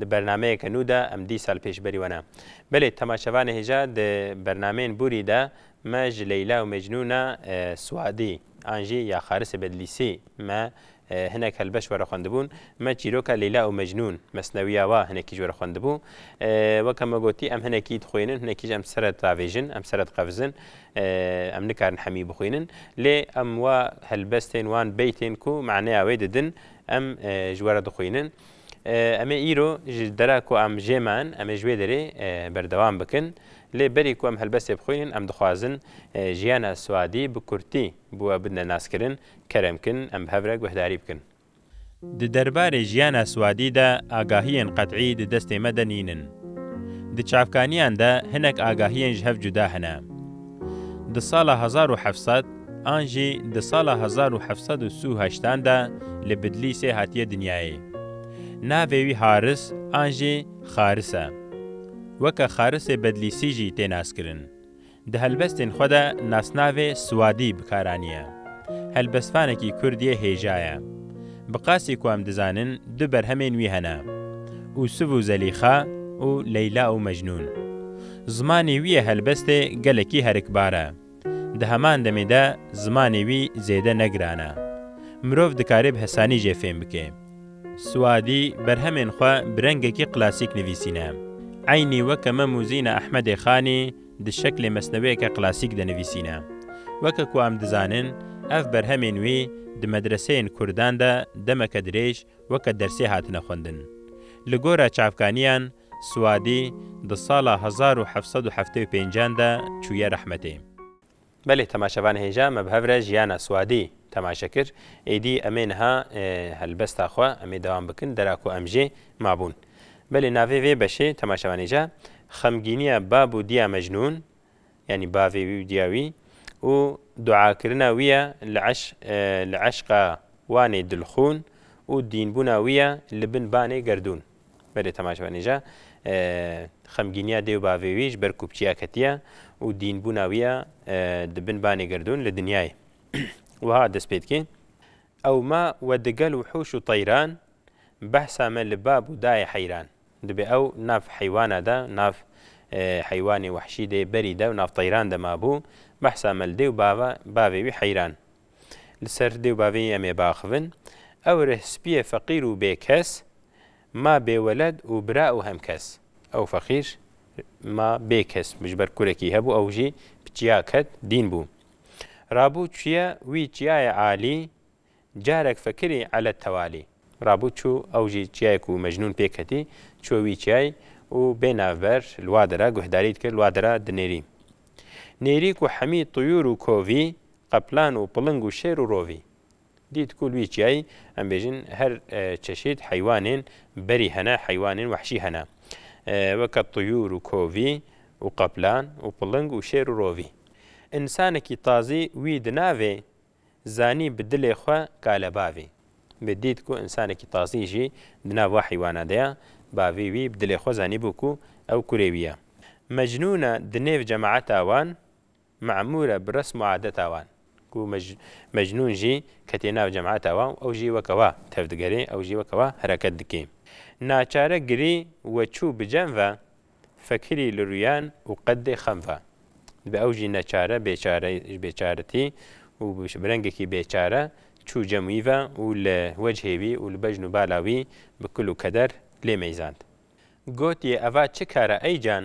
Di bernameyeke nû de em dî sal pêş berî we ne. Belê temaşevanê hêja di bernameyên bûrî de me ji Leyla û Mecnûna Swadî an jî ya Xarisê Bedlîsî me hinek helbeş werixwendibûn. Me çîroka Leyla û Mecnûn, mesnewiya wa hinekî ji we re xwendibû. Weke me gotî em hinekî dixwînin, hinekî ji em sere diavêjin, em sere diqevizin. Em nikarin hemî bixwînin. Lê em wa helbestên, wan beytên ku maneya wê didin em ji we re dixwînin. Em ê îro ji dera ku em jê me in, em ê ji wê derê berdewam bikin. Lê berî ku em helbestê bixwînin, em dixwazin jiyana Swedî bi kurtî bi we bidne naskirin, kerem bikin, em bi hev re guhdarî bikin. Di derbarê jiyana Swedî de agahiyên qet'î di destê me de nînin. Di çavkaniyan de hinek agahiyên ji hev cuda hene. Di sala hezar û heft sed an jî di sala hezar û heft sed û si û heşt an de li Bidlîsê hatiye dinyayê. Navê wî Haris an jî Xaris e. Weke Xarisê Bedlîsî jî tê naskirin. Di helbestên xwe de nasnavê Siwadî bi kar aniye. Helbestvanekî kurd yê hêja ye. Bi qasî ku em dizanin du berhemên wî hene, Ûsûf û Zelîxa û Leyla û Mecnûn. Zimanê wî yê helbestê gelekî herikbar e. Di heman demê de zimanê wî zêde ne giran e. Mirov dikarê bi hesanî jê fêm bike. Siwadî berhemên xwe bi rengekî klasîk nivîsîne. Eynî weke me Mûzîna Ehmedê Xanî di şeklê mesneweyeke klasîk de nivîsîne. Weke ku em dizanin, ev berhemên wî di medreseyên kurdan de demeke dirêj weke dersê hatine xwendin. Li gora çavkaniyan Suadî di sala hezar û heft sed û heftê û pênc de çûye rehmetê. Belê temaşevan hêja me bi hev re jiyana Suadî temaşe kir. Êdî em ê niha helbesta xwe em ê dewam bikin dera ku em jê mabûn. Belê navê vê beşê temaşevan hêja xemgîniya bab û diya Mecnûn yanî bavê wî û diya wî û duakirina wî ye li eşq li eşqa wanê dilxûn û dînbûna wî ye li bin banê gerdûn. Berê Temaşvanî jî xemgîniya dê û bavê wî ji ber kopçiya ketiye û dînbûna wî ya di bin banê gerdûn li dinyayê wiha dest pê dike, Ew ma we digel wihûş û teyran, behsa me li bab û dayê heyran. Dibê ew nav heywana de, nav heywanê wehşî dê berî de û nav teyran de mabû, behsa me li dê û bavê wî heyran. Li ser dê û bavê yî em ê biaxivin. Ew rih spîyê feqîr û bêkes ma bêweled û bira û hemkes. Ew feqîr ma bêkes bû ji ber kurekî hebû ew jî bi çiya ket dîn bû. Rabû çûye wî çiyayê alî carek fekirî elet tewalî. Rabû çû ew jî çiyayê ku Mecnûn pê ketî çûye wî çiyayê û bê navber li wa dera guhdarî dikir li wa dera dinêrî. Nêrî ku hemî tuyûr û kovî Qeplan û piling û şêr û rovî. Dît ku li wî çiyayî em bêjin her çeşîd heywanên berî hene, heywanên wehşî hene. Weke tuyûr û kovî û qeplan û piling û şêr û rovî. Însanekî tazî wî di navê zanî bi dilê xwe kale bavî. Wê dît ku însanekî tazî jî di nav wa heywana de ye. Bavî wî bi dilê xwe zanîbû ku ew kurê wî ye. Mecnûn e di nêv cemaeta wan Memûr e bi resm û adeta wan. Ku Mecnûn jî ketî nav cemata wan û ew jî weke wa tevdigerê, ew jî weke wa hereket dikê. Naçare girî we çû bi cem ve, fekirî li rûyan û qeddê xem ve. Dibe ew jî neçare, bêçare ji bêçaretî û bi rengekî bêçare çû cem wî ve û li wecihê wî û li bejn û bala wî bi kul û keder lê meyzand. Gotiye eva çi kar e ey can,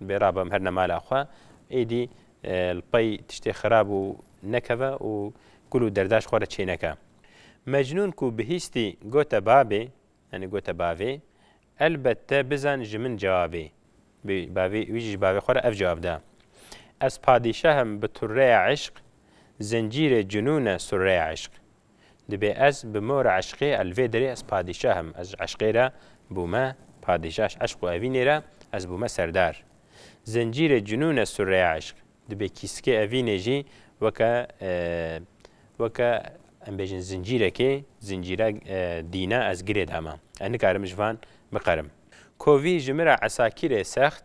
Bê ra bim herna mala xwe, êdî li pey tiştê xirab û nekeve û kul û derdaş xwe re çêneke. Mecnûn ku bihîstî gote Babê, yanî gote bavê, elbet te bizan ji min cevabê. Bê bavê wî jî ji bavê xwe re ev cevab da, Ez padîşah im bi turreya eşq, zencîrê cunûne surreya eşq. Dibê ez bi mo re eşqê e li vê derê ez padîşah im. Ez ji eşqê re bûme padîşah ji eşq û evînê re ez bûme serdar. Zincîrê cinûn e sûrreya eşq. Dibê kîskê evînê jî weke weke em bêjin zincîrekê zincîra dîna ez girê dama. Ez nikarim ji van biqerim. Kovî ji min re esakîrê sext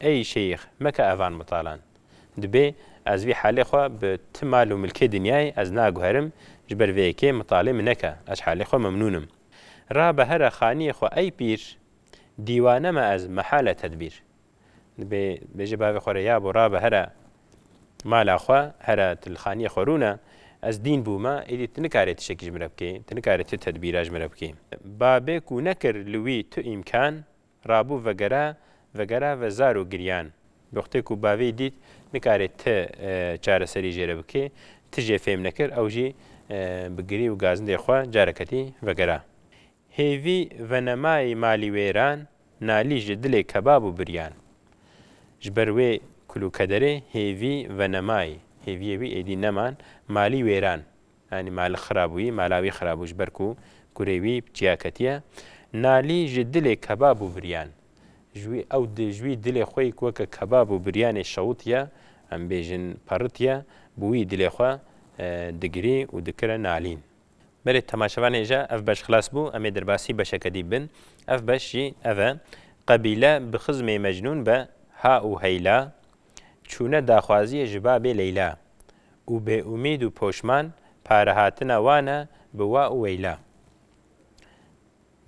Ey şeyx, meke evan mitalan. Dibê ez vî halê xwe bi ti mal û milkê dinyayê ez naguherim, ji ber vê yekê mitalê min neke, ez halê xwe memnûn im. Ra be here xaniyê xwe ey pîr, dîwane me ez mehale tedbîr. Dibê bêje bavê xwe re ya bo ra be here mala xwe, here tu li xaniyê xwe rûne, ez dîn bûme, êdî tu nikarê tiştekî ji min re bikê, tu nikarê tu tedbîra ji min re bikê. Babê ku nekir li wî tu îmkan, Rabû vegere vegere ve zar û giryan. Wextê ku bavê dît nikarê ti çareserî jê re bikê, ti jê fêm nekir ew jî bi girî û gazindê xwe careketî vegera. Hêvî venemayî malî wêran, nalî ji dilê kebab û biryan. Ji ber wê kul û kederê hêvî venemayî, hêviyê wî êdî neman, malî wêran. Yanî ma li xira bûyî, mala wî xira bû ji ber ku kurê wî bi çiya ketiye. Nalî ji dilê kebab û biryan. Ji wî ew di ji wî dilê xwe yî ku weke kebab û biryanê şewitiye, em bêjin peritiye, bi wî dilê xwe digirî û dikire nalîn. Berê temaşevan hêja ev beş xilas bû, em ê derbasî beşeke dî bin. Ev beş jî ev e, Qebîle bi xizmê Mecnûn be ha û heyla, çûne daxwaziyê ji babê Leyla û bêûmîd û poşman parehatina wan e bi wa û weyla.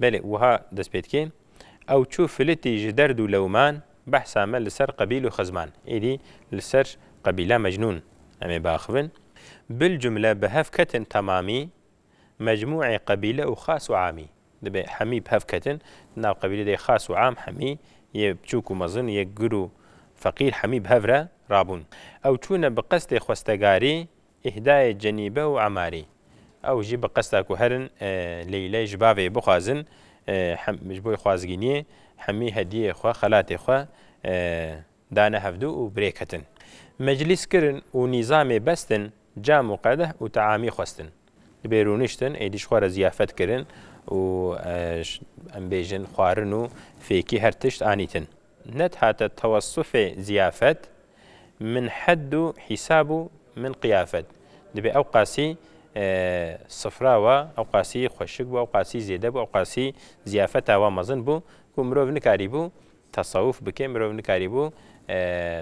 Belê wiha dest pê dike, Ew çû filitî ji derd û lewman, behsa me li ser qebîl û xizman. Êdî li ser qebîla Mecnûn em ê biaxivin. Bilcumle bi hev ketin temamî, mecmûê qebîle û xas û amî. Dibê hemî bi hev ketin. Di nav qebîlê de yê xas û am, hemî yê piçûk û mezin, yê gir û feqîr hemî bi hev re rabûn. Ew çûne bi qestê xwestegarî îhdayê Cenîbe û Emarî. Ew jî bi qesta ku herin Leyley ji bavê yê bixwazin, ji bo yê xwazgîniyê hemî hediyeyê xwe, xelatê xwe Dane hevdu û birêk hetin. Meclîs kirin û nîzamê bestin, cam û qedeh û teamî xwestin. Dibê rûniştin, êdî ji xwe re ziyafet kirin û em bêjin xwarin û fêkî her tişt anîtin. Net hate tewesufê ziyafet, min hed û hîsab û min qiyafet. Dibê ewqasî sifra wa ewqasî xweşik bû, ewqasî zêde bû, ewqasî ziyafeta wa mezin bû ku mirov nikarîbû Tasawuf bike mirov nikarîbû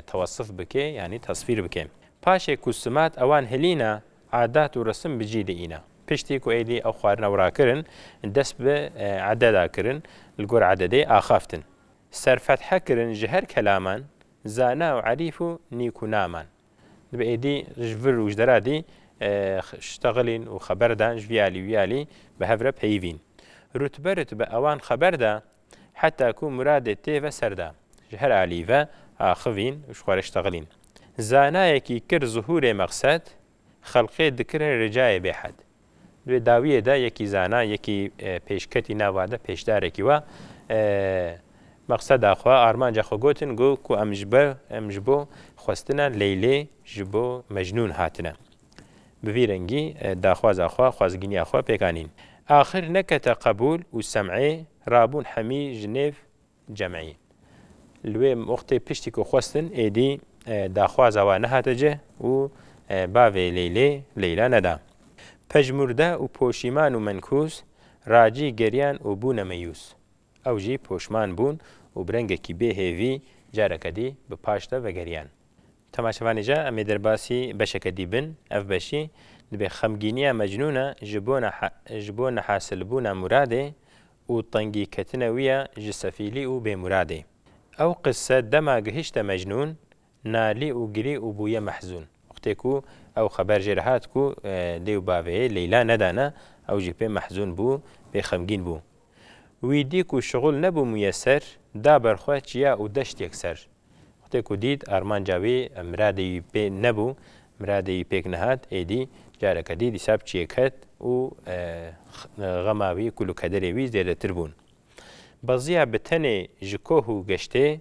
tewasuf bike yanî tasfîr bike. Paşê ku simat ewan hilîna, adat û resim bi cî diîna. Piştî ku êdî ew xwarina û rakirin, dest bi ededa kirin, li gor ededê axaftin. Serfethe kirin ji her kelaman, zana û erîf û nîkûnaman. Dibe êdî ji vir û ji deradî şteghilîn û xeber dan ji vî alî wî alî bi hev re peyivîn. Rutbe rutbe ewan xeber da Heta ku muradê tê ve ser de. Ji her alî ve axivîn û ji xwe re ştexilîn. Zanayekî kir zuhûrê mexsed, xelqê dikirin ricayê bêhed. Di wê dawiyê de yekî zana, yekî pêşketî nava de pêşdarekî wa mexseda xwe, armanca xwe gotin got ku em ji bo xwestina Leylê ji bo Mecnûn hatine. Bi vî rengî daxwaza xwe, xwezgîniya xwe pêk anîn. Axir nekete qebûl û Sem'î rabûn hemî ji nêv Cem'î. Li wê wextê piştî ku xwestin êdî daxwaza we nehate cih û bavê Leylê, Leyla neda. Pejmûrde û poşîman û menkûs Racî geriyan û bûne meyûs. Ew jî poşman bûn û bi rengekî bê hêvî careke dî bi paş de vegeriyan. Temaşevanê jî em ê derbasî beşeke dî bin, ev beşî dibê xemgîniya mecnûna ji bo ji bo nehasilbûna Muradê û tengîketina wî ya ji sefîlî û bêmuradê. Ew qise dema gihişte mecnûn, nalî û girî û bûye mehzûn. Wextê ku ew xeber jê re hat ku dê û bavê yê Leyla nedane, ew jî pê mehzûn bû, pê xemgîn bû. Wî dî ku şixul nebû mûyeser, da ber xwe çiya û deşt yekser. Wextê ku dît armanca wî miradê wî pê nebû, miradê wî pêk nehat, êdî careke dî dîsa bi çiyê ket û xema wî, kulûkederê wî zêdetir bûn. Beziya bi tenê ji koh û geştê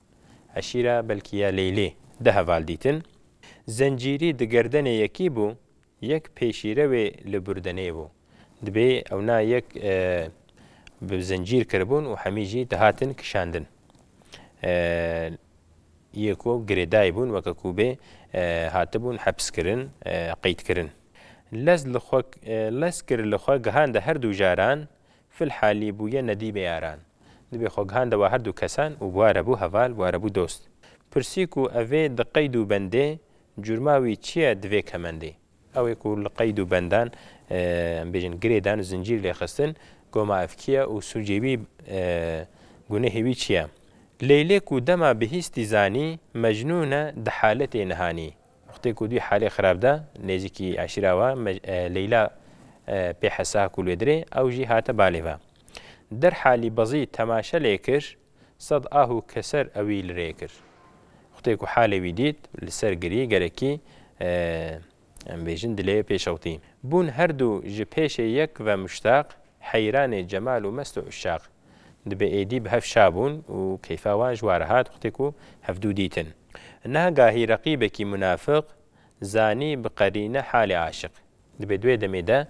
Eşîra belkî ya Leylî di heval dîtin. Zencîrî di gerdenê yekî bû, yek pêşîre wê li burdenê bû. Dibê ewna yek bi zencîr kiribûn û hemî jî dihatin kişandin. Yê ku girêdayî bûn weke ku bê hatibûn hepskirin, qeydkirin. Lez li xwe lez kir li xwe gihande her du jaran Fil halî bûye nedî mêyaran. Dibê xwe gihan dewa her du kesan û ware bû heval, ware bû dost. Pirsî ku evê di qeyd û bendê, curma wî çi ye di vê kemendê? Ew ê ku li qeyd û bendan, em bêjin girêdan, zincîr lê xistin, goma ev kî ye û sûcê wî, gunehê wî çi ye? Leylê ku dema bihîstî zanî, Mecnûn e di haletê nihanî, Wextê ku dûî halê xirab de nêzîkî eşîra we Leyla pê hesa ku lwêdirê ew jî hate balê ve. Der halî bezî temaşe lê kir, sed ah û keser ewî li rê kir. Wextê ku halê wî dît li ser girî gerekî em bêjin dilê pê şewtî. Bûn her dû ji pêşê yek ve muştaq, heyranê cemal û mest û uşaq. Dibe êdî bi hev şabûn û keyfa wan ji wa rihat wextê ku hevdû dîtin. Niha gahî reqîbekî munafik zanî bi qerîne halê aşiq. Dibe di wê demê de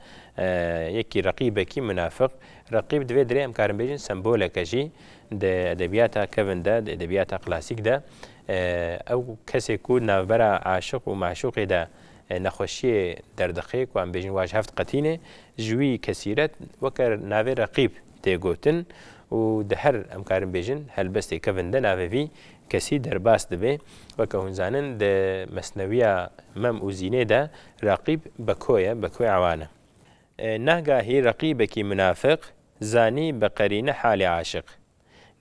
yekî reqîbekî munafik. Reqîb di vê dirê em karin bêjin semboleke jî di edebiyata kevin de, di edebiyata klasîk de ew kesê ku di navbera aşiq û meşûqê de nexweşiyê derdixê ku em bêjin wa ji hev diqetînê ji wî kesîret weke navê reqîb tê gotin û di her em karin bêjin helbestê kevin de navê vî kesî derbas dibê. Weke hûn zanin di mesnewiya Mem û Zînê de Reqîb Beko ye, Beko Ewan e. Nahgahî reqîbekî munafiq zanî bi qerîne halê aşiq.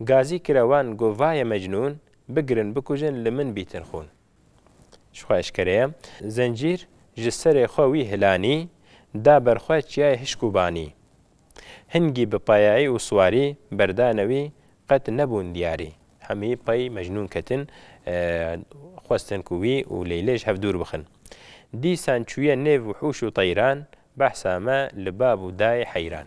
Gazî kire wan go vaye mecnûn, bigirin bikujin li min bîtin xûn. Ji xwe eşkere ye. Zencîr ji serê xwe wî hilanî, da ber xwe çiyayê hişk û banî. Hingî bi payayî û siwarî, berdane wî qet nebûn diyarî. Hemî pey Mecnûn ketin, xwestin ku wî û Leylê ji hev dûr bixin. Dîsan çûye nêv wihûş û teyran, behsa me li bab û dayê heyran.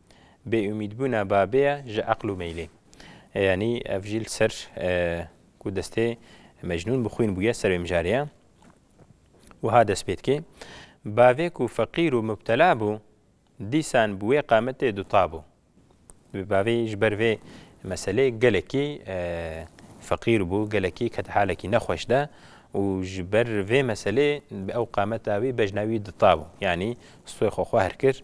bêumîdbûna babê ye ji eql û meylê. Yanî ev jî li ser ku destê Mecnûn bi xwîn bûye ser wê mijarê ye. Wiha dest pê dike, Bavê ku feqîr û mubtela bû, dîsan bi wê qametê duta bû. Bi bavê ji ber vê meselê gelekî feqîr bû, gelekî kete halekî nexweş de û ji ber vê meselê bi ew qameta wî bejna wî duta bû. Yanî stûyê xwe xwehr kir,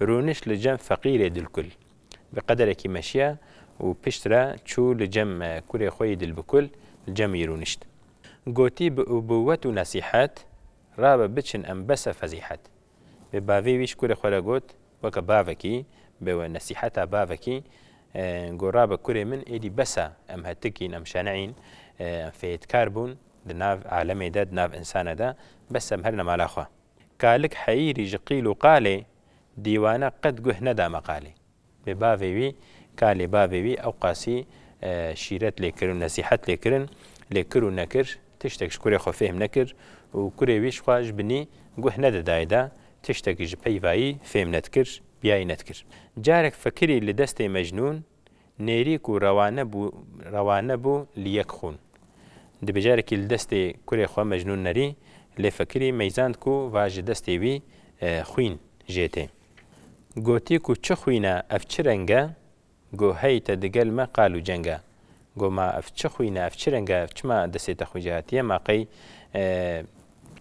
Rûniş li cem feqîrê dilkul. Bi qederekî meşiya û pişt re çû li cem kurê xwe yî dilbikul, li cem wî rûnişt. Gotî bi ubûwet û nesîhet, Rabe biçin em bese fezîhet. Bi bavê wî ji kurê xwe re got, weke bavekî, bi nesîheta bavekî, got, Rabe kurê min êdî bese, em hetik in, em şene in, em fêdkar bûn di nav alemê de, di nav insane de, bes em herin mala xwe. Kalik Heyîrî ji qîl û qalê dîwane qet guh neda meqalê. Bi bavê wî, kalê bavê wî ewqasî şîret lê kirin û nesîhet lê kirin, lê kir û nekir tiştek ji kurê xwe fêhm nekir û kurê wî jixwe ji binî guh nedidaye de tiştekî ji peyvayî fêhm nedikir, biyayî nedikir. Carek fikirî li destê Mecnûn Nêrî ku rewane bû rewane bû li yek xûn. Di bêjarekî li destê kurê xwe Mecnûn nerî lê Fekirî meyzand ku va ji destê wî xwîn jê tê. Gotî ku çi xwîn e ev çi reng e? Go hey te digel me qal û ceng e. Go ma ev çi xwîn e ev çi reng e ev çima destê te xwîn jê hatiye ma qey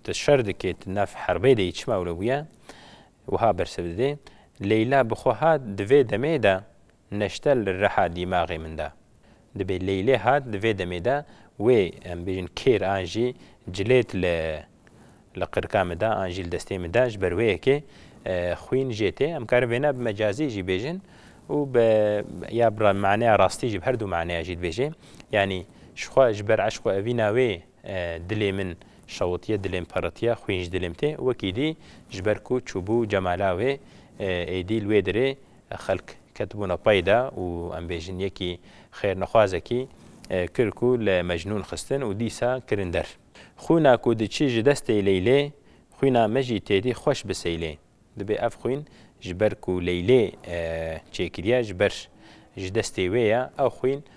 tu şer dikê tu nav herbê de yî çima wile bûye? Wiha bersiv didê. Leyla bi xwe hat di vê demê de neşte li reha dîmaxê min de. Dibê Leylê hat di vê demê de wê em bêjin kêr an jî cilêt li li qirika min de an jî li destê min de ji ber wê yekê xwîn jê tê. Em karin vêna bi mecazî jî bêjin û bi ya bi maneya rastî jî bi her du maneya jî dibêjê. Yanî ji xwe ji ber eşq û evîna wê dilê min şewitiye, dilê min peritiye, xwîn ji dilê min tê û wekî dî ji ber ku çûbû cemala wê êdî li wê derê Xelk ketibûne pey de û em bêjin yekî xêrnexwazekî kir ku li Mecnûn xistin û dîsa kirin der. Xwîna ku diçî ji destê Leylê, xwîna me jî têdî xweş bi Seylê. Dibê ev xwîn ji ber ku Leylê çêkiriye ji ber ji destê wê ye, ew xwîn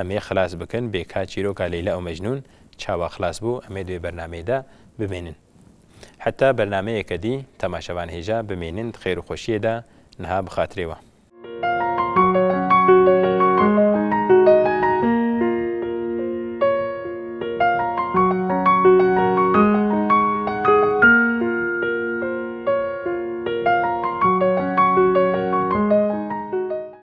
Em ê xilas bikin bê ka çîroka Leyla û Mecnûn çawa xilas bû em ê di wê bernameyê de bimênin. Heta bernameyeke dî temaşevan hêja bimênin di xêr û xweşiyê de niha bi xatirê wan.